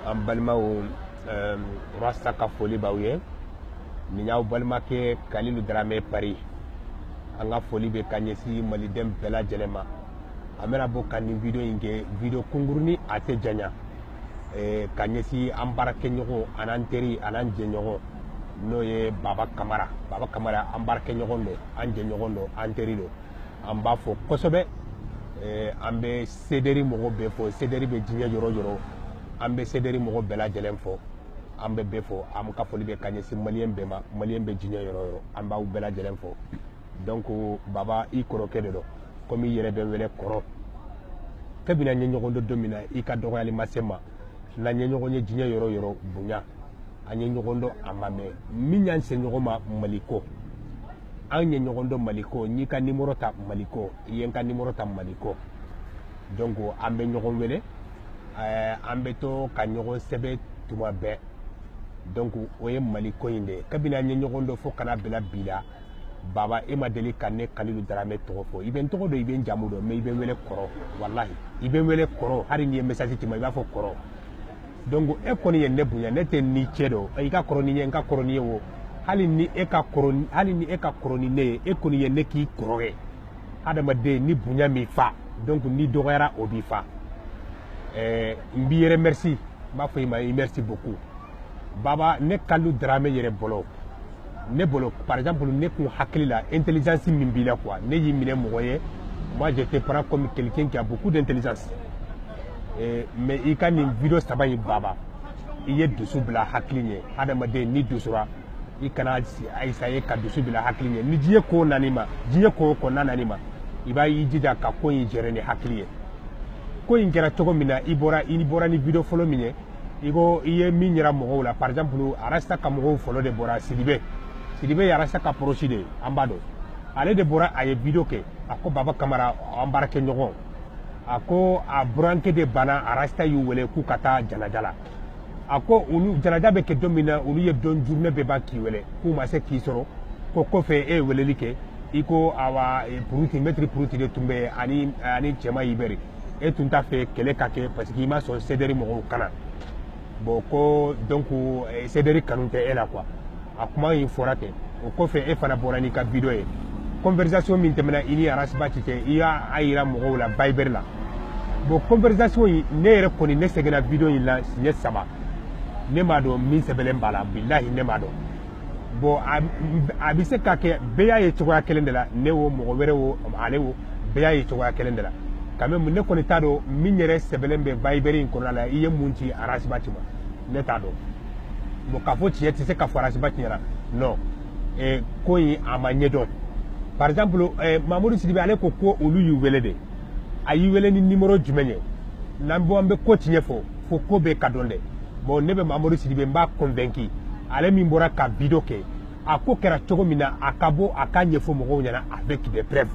an balimaw rasta ka foli b'aw ye nin y'aw balimakɛ kalilu daramɛ pari an ka foli bɛ ka ɲɛsin maliden bɛɛ lajɛlen ma an bɛna bɔ ka nin video in kɛ video kunkurunin a tɛ janya ka ɲɛsin an baarakɛɲɔgɔn an'an teri an'an jɛɲɔgɔn n'o ye baba kamara baba kamara an baarakɛɲɔgɔn don an jɛɲɔgɔn don an teri don an b'a fo kosɛbɛ eh, an bɛ sederi mɔgɔ bɛɛ fo sederi bɛ diɲɛ yɔrɔ yɔrɔ an bɛ sederi mɔgɔ bɛɛ lajɛlen fo an bɛ bɛɛ fo an ka foli bɛ ka ɲɛsin maliyɛn bɛɛ ma maliyɛn bɛ diɲɛ yɔrɔ yɔrɔ an b'aw bɛɛ lajɛlen fo donc baba i kɔrɔkɛ de don komi i yɛrɛ bɛ n wele kɔrɔ kabini an ye ɲɔgɔn dɔn don min na i ka dɔgɔyali ma se n ma n'an ye ɲɔgɔn ye diɲɛ yɔrɔ yɔrɔ bonya an ye ɲɔgɔn dɔn a ma mɛn min y'an se ɲɔgɔn ma mali ko an ye ɲɔgɔn dɔn mali ko n y'i ka nimoro ta mali ko i ye n ka nimoro ta mali ko donc an bɛ ɲɔgɔn wele eh, an bɛ to ka ɲɔgɔn sɛbɛn tuma bɛɛ donc o ye mali ko in de ye kabini an ye ɲɔgɔn dɔn fo ka na bila bi la baba e ma deli ka ne kalilu daramɛ tɔgɔ fɔ i bɛ n tɔgɔ dɔn i bɛ n jamu dɔn mais i bɛ n wele kɔrɔ walahi i bɛ n wele kɔrɔ hali n'i ye message ci n ma i b'a fɔ kɔrɔ donc e kɔni ye ne bonya ne tɛ n n'i cɛ dɔn i ka kɔrɔ ni n ye n ka kɔrɔ n'i ye o hali ni e ka kɔrɔ ni ne ye e kɔni ye ne k'i kɔrɔ ye adamaden ni bonya m'i fa donc n'i dɔgɔyara o b'i fa ɛɛ n b'i remercier n b'a fɔ i ma i merci beaucoup baba ne kalilu daramɛ yɛrɛ bolo ne bolo par exemple ne kun hakili la intelligence min b'i la quoi ne y'i minɛ mɔgɔ ye moi je te prends comme quelqu'un qui a beaucoup d'intelligence eh, mais i ka nin video saba in baba i ye dusu bila hakili ɲɛ hadamaden n'i dusura i kana essayer ka dusu bila hakili ɲɛ ni diɲɛ ko nan'i ma diɲɛ ko ko na nan'i ma i b'i jija ka ko in gérer ni hakili ye ko in kɛra cogo min na i bɔra ni video fɔlɔ min ye i ko i ye min yira mɔgɔw la par exemple arasta ka mɔgɔ fɔlɔ de bɔra sidibe sidibe ye arasta ka proche de ye an b'a dɔn ale de bɔra a ye video kɛ a ko baba kamara an baarakɛɲɔgɔn a ko a burankɛ de banna arasta y'u wele k'u ka taa janaja la a ko olu janaja bɛ kɛ don min na olu ye don journée bɛɛ ban k'i wele k'u ma se k'i sɔrɔ ko kɔfɛ e ye weleli kɛ i ko awa puruti mɛtiri puruti de tun bɛ ani ani cɛma ibɛri e tun t'a fɛ kɛlɛ ka kɛ parce que i ma sɔn sederi mɔgɔw ka na bon ko donc eh, sederi kanu tɛ e la quoi a kuma in fɔra ten o kɔfɛ e fana bɔra n'i ka video ye conversation min tɛmɛna i ni arasibati cɛ i y'a a yira mɔgɔw la viber la bon conversation in ne yɛrɛ kɔni ne seginna video in la siɲɛ saba ne m'a dɔn min sɛbɛlen b'a la bilahi ne m'a dɔn bon a bɛ se ka kɛ bɛɛ y'a ye cogoya kelen de la ne wo mɔgɔ wɛrɛ wo ale wo bɛɛ y'a ye cogoya kelen de la quand même ne kɔni t'a dɔn min yɛrɛ sɛbɛnlen bɛ bayibɛri in kɔnɔna la i ye mun ci ras bath ma ne t'a dɔn bon k'a fɔ tiɲɛ tɛ se ka fɔ ras bath ɲɛna non eh, ko in a ma ɲɛ dɔn par exemple eh, mamudu sidibe ale ko ko olu y'u wele de a y'i wele ni nimoro jumɛn ye n'an bɔ an bɛ ko tiɲɛ fɔ fo ko bɛɛ ka dɔn dɛ bon ne bɛ mamadu sidibe n b'a convaincu ale min bɔra ka video kɛ a ko kɛra cogo min na a ka bɔ a k'a ɲɛfɔ mɔgɔw ɲɛna avec des preuves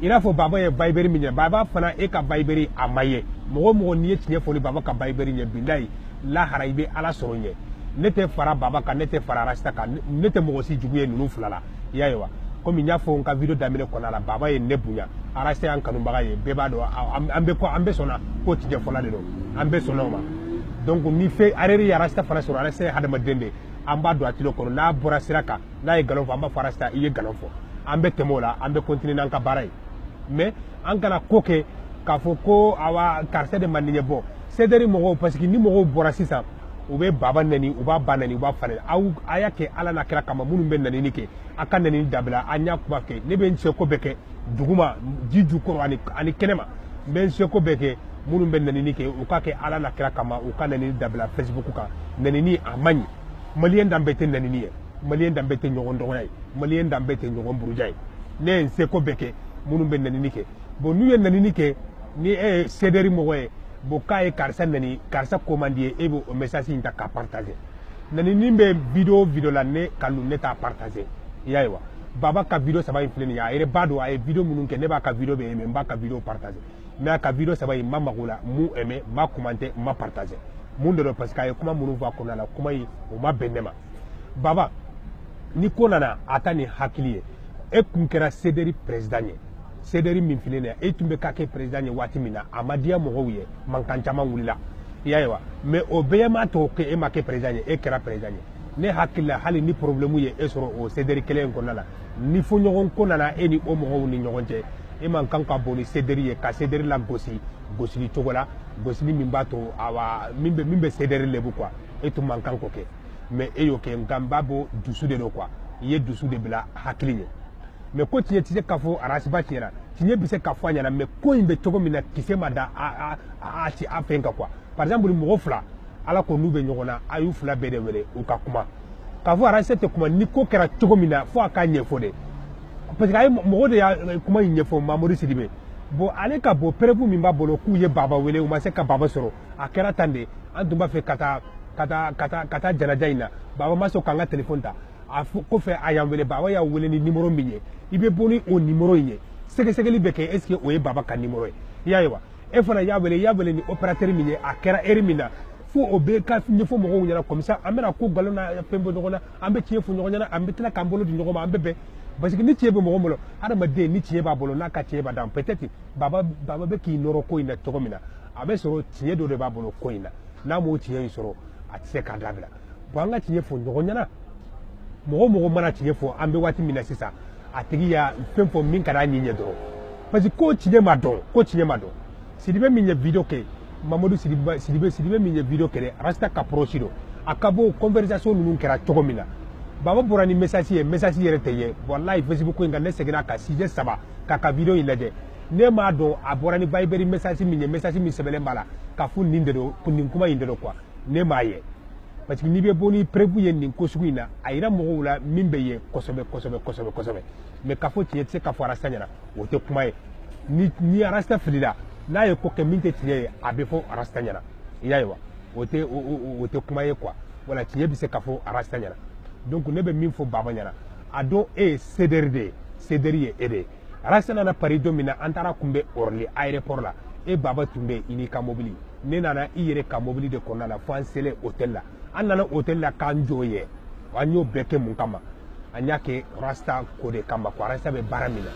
i n'a fɔ baba ye bayiberi min ɲɛ baba fana e ka bayiberi a ma ye mɔgɔ o mɔgɔ n'i ye tiɲɛ fɔ ni baba ka bayiberi ye bilayi lahara i bɛ ala sɔrɔ ɲɛ ne tɛ fara baba kan ne tɛ fara arasta kan ne tɛ mɔgɔ si jugu ye ninnu fila la i y'a ye wa komi n y'a fɔ n ka video daminɛ kɔnɔna la baba ye ne bonya arasta y'an kanubaga ye bɛɛ b'a dɔn an bɛ ko an bɛɛ sɔnna ko tiɲɛ fɔla de don an bɛɛ sɔnna o ma donc ni fɛn erreur ye arasta fana sɔrɔ arasta ye hadamaden de ye an b'a don a tilo kɔnɔ n'a bɔra sira kan n'a ye nkalon fɔ an b'a fɔ arasta i ye nkalon fɔ an bɛ tɛmɛ o la an bɛ continuer n'an ka baara ye mais an kana ko kɛ k'a fɔ ko awa karisa de man di n ye bon sederi mɔgɔw parce que ni mɔgɔw bɔra sisan u bɛ baba nani u b'a ba nani u b'a fa nani aw a y'a kɛ ala n'a kira kama minnu bɛ nanini kɛ a ka nanini dabila an y'a kuma kɛ ne bɛ n seko bɛɛ kɛ duguma ji jukɔrɔ ani ani kɛnɛma n bɛ n seko bɛɛ kɛ minnu bɛ nanini kɛ u k'a kɛ ala n'a kira kama u ka nanini dabila facebook kan nanini a man ɲi maliyɛn danbe tɛ nanini ye maliyɛn danbe tɛ ɲɔgɔn dɔgɔya ye maliyɛn danbe tɛ ɲɔgɔn buruja ye ne ye n seko bɛɛ kɛ minnu bɛ nanini kɛ bon n'u ye nanini kɛ ni e ye sederi mɔgɔ ye bon k'a ye karisa nani karisa ko man di i ye e b'o message in ta k'a partager nanini bɛ video video la ne kalilu ne t'a partager i y'a ye wa baba ka video saba in filɛ nin ye a yɛrɛ b'a dɔn a ye video minnu kɛ ne b'a ka video bɛɛ aimé n b'a ka video partager mais a ka video saba in n ma maga o la n m'u aimé n m'a commenter n m'a partager mun de don parce que a ye kuma minnu fɔ a kɔnɔna la kuma in o ma bɛn ne ma baba ni ko nana a ta ni hakili ye e tun kɛra sederi président ye sederi min filɛ nin e tun bɛ ka kɛ président ye waati min na a ma diya mɔgɔw ye mankan caman wulila i y'a ye wa mais o bɛɛ m'a to ko e ma kɛ président ye e kɛra président ye ne hakili la hali ni problème ye e sɔrɔ o sederi kelen in kɔnɔna la ni fɔɲɔgɔnkɔ nana e ni o mɔgɔw ni ɲɔgɔn cɛ e man kan ka bɔ ni sederi ye ka sederi lagosi gosili cogo la gosili min b'a to awa min bɛ min bɛ sederi lebu quoi e tun man kan k'o kɛ mais e y'o kɛ nka n b'a bɔ dusu de don quoi i ye dusu de bila hakili ɲɛ mais ko tiɲɛ tɛ se ka fɔ arasi bati ɲɛna tiɲɛ bɛ se ka fɔ a ɲɛna mais ko in bɛ cogo min na kisɛ ma da a a ci a fɛn kan quoi par exemple mɔgɔ fila ala ko n'u bɛ ɲɔgɔn na a y'u fila bɛɛ de wele u ka kuma k'a fɔ arasi tɛ kuma ni ko kɛra cogo min na fo a k'a ɲɛfɔ de parce que a ye mɔgɔ de y'a kuma in ɲɛfɔ mamadu sidibe bon ale ka bɔ preuve min b'a bolo k'u ye baba wele u ma se ka baba sɔrɔ a kɛra tan de an tun b'a fɛ ka taa ka taa ka taa ka taa janaja in na baba ma sɔn k'an ka téléphone ta a kɔfɛ a y'an wele baba y'a wele ni numéro min ye i bɛ bɔ ni o numéro in ye sɛgɛsɛgɛli bɛ kɛ est ce que o ye baba ka numéro ye i y'a ye wa e fana y'a wele i y'a wele ni opérateur min ye a kɛra heure min na fo o bɛɛ ka ɲɛfɔ mɔgɔw ɲɛna comme ça an bɛna ko nkalon na fɛn bɔ ɲɔgɔn na an bɛ tiɲɛ fɔ ɲɔgɔn ɲɛna an bɛ tila k'an bolo di ɲɔgɔn ma an bɛ bɛn parce que ni tiɲɛ bɛ mɔgɔ bolo hadamaden ni tiɲɛ b'a bolo n'a ka tiɲɛ b'a dan peut être baba baba bɛ k'i nɔrɔ ko in na cogo min na a bɛ sɔrɔ tiɲɛ dɔ de b'a bolo ko in na n'a m'o tiɲɛ in sɔrɔ a tɛ se k'a dabila bon an ka tiɲɛ fɔ ɲɔgɔn ɲɛna mɔgɔ mɔgɔ mana tiɲɛ fɔ an bɛ waati min na sisan a tigi y'a fɛn fɔ min ka d'a ɲɛ ɲɛ dɔrɔn parce que ko tiɲɛ ma dɔn ko tiɲɛ ma dɔn sidibe min ye video kɛ mamadu sidibe sidibe sidibe min ye video kɛ rasta ka proche don a ka bɔ conversation ninnu kɛra cogo min na baba bɔra ni message ye message yɛrɛ tɛ ye walayi facebook ko in kan ne seginn'a kan siɲɛ saba k'a ka video in lajɛ ne m'a dɔn a bɔra ni viber message min ye message min sɛbɛnlen b'a la k'a fɔ nin de don nin kuma in de don quoi ne m'a ye parce que n'i bɛ bɔ ni preuve ye nin ko sugu in na a yira mɔgɔw la min bɛ ye kosɛbɛ kosɛbɛ kosɛbɛ kosɛbɛ mais k'a fɔ tiɲɛ tɛ se ka fɔ arasta ɲɛna o tɛ kuma ye ni ni arasta filila n'a ye ko kɛ min tɛ tiɲɛ ye a bɛ fɔ arasta ɲɛna i y'a ye wa o tɛ o tɛ kuma ye quoi voilà tiɲɛ bɛ se ka fɔ arasta ɲɛna donc ne bɛ min fɔ baba ɲɛna a dɔn e ye CDR de ye CDR ye e de ye Rasta nana Paris don min na an taar'a kunbɛn Orly aéroport la e baba tun bɛ i n'i ka mobili ne nana i yɛrɛ ka mobili de kɔnɔna la fo an selen hôtel la an nana hôtel la k'an jɔ yen an y'o bɛɛ kɛ mun kama an y'a kɛ Rasta ko de kama ko Rasta bɛ baara min na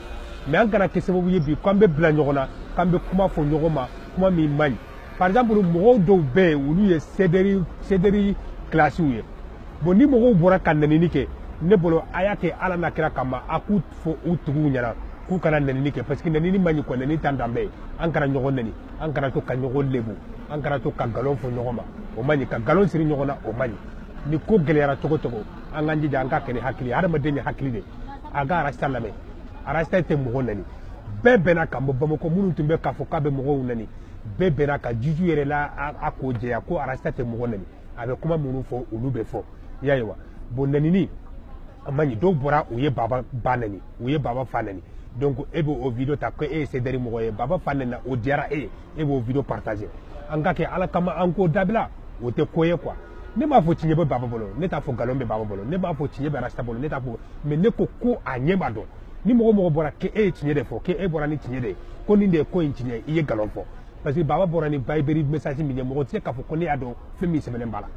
mais an kana kɛ sababu ye bi k'an bɛ bila ɲɔgɔn na k'an bɛ kuma fɔ ɲɔgɔn ma kuma min man ɲi par exemple mɔgɔw dɔw bɛ yen olu ye CDR CDR classe ye bon ni mɔgɔw bɔra ka nɛnini kɛ ne bolo a y'a kɛ ala n'a kira kama a k'u fɔ u tigiw ɲɛna k'u kana nɛnini kɛ parce que nɛnini man ɲi quoi nɛnini t'an danbe ye an kana ɲɔgɔn nɛni an kana to ka ɲɔgɔn lebu an kana to ka nkalon fɔ ɲɔgɔn ma o man ɲi ka nkalon siri ɲɔgɔn na o man ɲi ni ko gɛlɛyara cogo cogo an k'an jija an k'a kɛ ni hakili ye hadamaden ye hakili de a ka arasta lamɛn arasta tɛ mɔgɔ nɛni bɛɛ bɛnna ka bɔ bamakɔ minnu tun bɛ k'a fɔ k'a bɛ mɔgɔw nɛni bɛɛ bɛnn'a kan juju yɛrɛ la a ko jɛya ko arasta tɛ mɔgɔ nɛni a bɛ kuma minnu fɔ olu bɛ fɔ i y'a ye wa bon nɛnini a man ɲi dɔw bɔra u ye baba ba nɛni u ye baba fa nɛni donc e bɛ o video ta ko e ye CDR mɔgɔ ye baba fa nɛnina o diyara e ye e b'o video partager an k'a kɛ ala kama an k'o dabila o tɛ ko ye quoi ne m'a fɔ tiɲɛ bɛ baba bolo ne t'a fɔ nkalon bɛ baba bolo ne m'a fɔ tiɲɛ bɛ rasta bolo ne t'a fɔ mais ne ko ko a ɲɛ b'a dɔn ni mɔgɔ mɔgɔ bɔra k'e ye tiɲɛ de fɔ k'e bɔra ni tiɲɛ de ye ko nin de ye ko in tiɲɛ i ye nkalon fɔ parce que baba bɔra ni Viber message min ye mɔgɔ tɛ se k'a fɔ ko ne y'a dɔn fɛn min sɛbɛnnen b'a la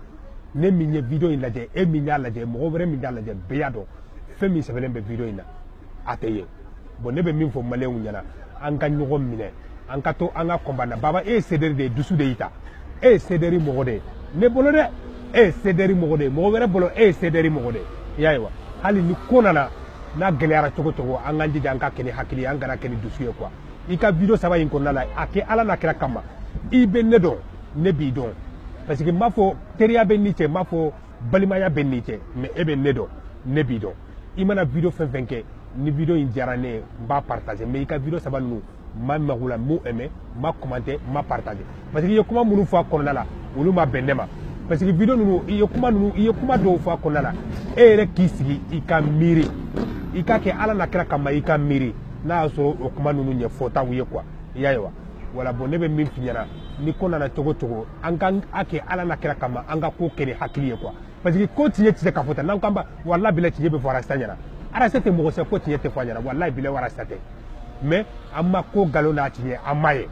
ne min ye video in lajɛ e min y'a lajɛ mɔgɔ wɛrɛ min y'a lajɛ bɛɛ y'a dɔn fɛn min sɛbɛnnen bɛ video in na a tɛ ye bon ne bɛ min fɔ maliyɛnw ɲɛna an ka ɲɔgɔn minɛ an ka to an ka kɔnbana baba e ye CDR de ye dusu de y'i ta e ye CDR mɔgɔ de ye ne bolo dɛ e ye CDR mɔgɔ de ye mɔgɔ wɛrɛ bolo e ye CDR mɔgɔ de ye i y'a ye wa hali ni ko nana n'a gɛlɛyara cogo cogo an k'an jija an ka kɛ ni hakili ye an kana kɛ ni dusu ye quoi i ka video saba in kɔnɔna la a kɛ ala n'a kira kama i bɛ ne dɔn ne b'i dɔn parce que n m'a fɔ teriya bɛ n n'i cɛ n m'a fɔ balimaya bɛ n n'i cɛ mais e bɛ ne dɔn ne b'i dɔn i mana video fɛn fɛn kɛ ni video in diyara ne ye n b'a partager mais i ka video saba ninnu n ma maga u la n m'u aimé n ma commenté n ma partagé parce que i ye kuma minnu fɔ a kɔnɔna la olu ma bɛn ne ma parce que video ninnu i ye kuma ninnu i ye kuma dɔw fɔ a kɔnɔna la e yɛrɛ k'i sigi i ka miiri i k'a kɛ ala n'a kira kama i ka miiri n'a y'a sɔrɔ o kuma ninnu ye fɔtaw ye quoi i y'a ye wa voilà bon ne bɛ min f'i ɲɛna ni ko nana cogo cogo an k'a kɛ ala n'a kira kama an ka ko kɛ ni hakili ye quoi parce que ko tiɲɛ tɛ se ka fɔ tan n'an k'an ba walahi bilahi tiɲɛ bɛ fɔ arasta ɲɛna arasta tɛ mɔgɔ sɛ ko tiɲɛ tɛ fɔ a ɲɛna walahi bilahi arasta tɛ mais an ma ko nkalon n'a tiɲɛ an m'a ye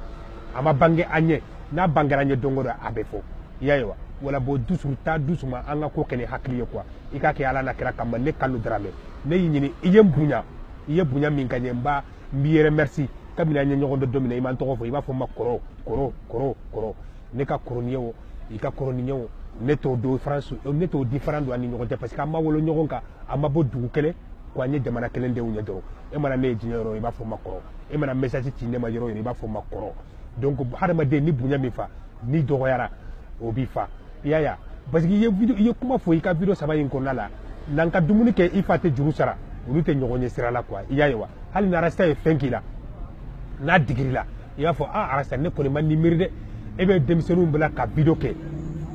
a ma bange an ɲɛ n'a bangera an ɲɛ don o don a bɛ fɔ i y'a ye wa voilà bon dusu taa dusu ma an ka ko kɛ ni hakili ye quoi i k'a kɛ ala n'a kira kama ne kanu daramɛ ne y'i ɲini i ye n bonya i ye bonya min kɛ n ye n b'a n b'i yɛrɛ merci kabini an ye ɲɔgɔn dɔn don min na i ma n tɔgɔ fɔ i b'a fɔ n ma kɔrɔ kɔrɔ kɔrɔ kɔrɔ ne ka kɔrɔ n'i ye o i ka kɔrɔ ni n ye o ne t'o différence ne t'o différent dɔn an ni ɲɔgɔn cɛ parce que an ma wolo ɲɔgɔn kan an ma bɔ dugu kelen ko an ye jamana kelen denw ye dɔrɔn e mana ne ye diɲɛ yɔrɔ i b'a fɔ n ma kɔrɔ e mana message ci ne ma yɔrɔ yɔrɔ i b'a fɔ n ma kɔrɔ donc hadamaden ni bonya m'i fa n'i dɔgɔyara o b'i fa i y'a ye parce que i ye video i ye kuma fɔ i ka video saba in kɔnɔna la n'an ka dumuni kɛ i fa tɛ juru sara olu tɛ ɲɔgɔn ye sira la quoi i y'a ye wa hali ni arasta ye fɛn k'i la n'a digir'i la i b'a fɔ a ah, arasta ne kɔni ma nin miiri dɛ e bɛ denmisɛnninw bila ka video kɛ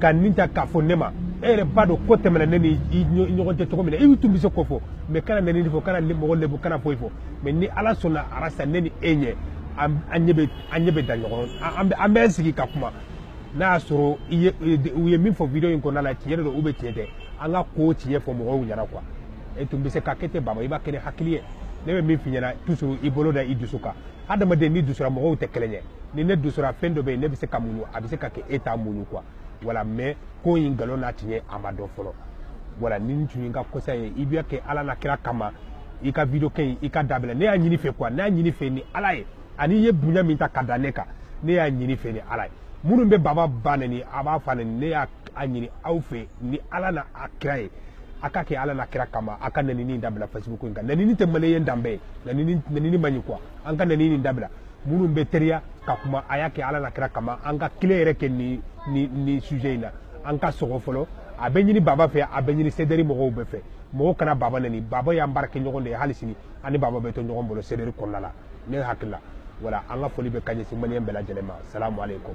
ka nin ta k'a fɔ ne ma e yɛrɛ b'a dɔn ko tɛmɛna ne ni i ɲɔgɔn cɛ cogo min na i tun bɛ se k'o fɔ mais kana nɛni fɔ kana mɔgɔ lebu kana foyi fɔ mais ni ala sɔnna arasta ne ni e ɲɛ an ɲɛ bɛ an ɲɛ bɛ da ɲɔgɔn an bɛ an bɛ sigi ka kuma n'a y'a sɔrɔ i ye u ye min fɔ video in kɔnɔna la tiɲɛ de don ou bien tiɲɛ tɛ an ka ko tiɲɛ fɔ mɔgɔw ɲɛna quoi e tun bɛ se k'a kɛ ten baba i b'a kɛ ni hakili ye ne bɛ min f'i ɲɛna toujours i bolo da i dusu kan hadamaden ni dusura mɔgɔw tɛ kelen ye ni ne dusura fɛn dɔ bɛ yen ne bɛ se ka muɲu a bɛ se ka kɛ e t'a muɲu quoi voilà mais ko in nkalon n'a tiɲɛ a ma dɔn fɔlɔ voilà ni n tun ye n ka kosa ye i b'a kɛ ala n'a kira kama i ka video kɛ in i k'a dabila ne y'a ɲini i fɛ quoi ne y'a ɲini i fɛ ni ala ye ani i ye bonya min ta ka da ne kan ne y'a ɲini i fɛ ni ala ye minnu bɛ baba ba neni a b'a fa neni ne y'a a ɲini aw fɛ ni ala ni a kira ye a k'a kɛ ala n'a kira kama a ka nenini in dabila facebook in kan nenini tɛ maliyɛn danbe ye nenini man ɲi quoi an ka nenini in dabila minnu bɛ teliya ka kuma a y'a kɛ ala n'a kira kama an ka kile yɛrɛ kɛ ni ni ni sujet in na an ka sɔgɔ fɔlɔ a bɛ ɲini baba fɛ a bɛ ɲini CDR mɔgɔw bɛɛ fɛ mɔgɔw kana baba neni baba y'an baarakɛɲɔgɔn de ye hali sini an ni baba bɛ to ɲɔgɔn bolo CDR kɔnɔna la ne hakili la voilà an ka foli bɛ ka ɲɛsin maliyɛn bɛɛ lajɛlen ma salamu aleykum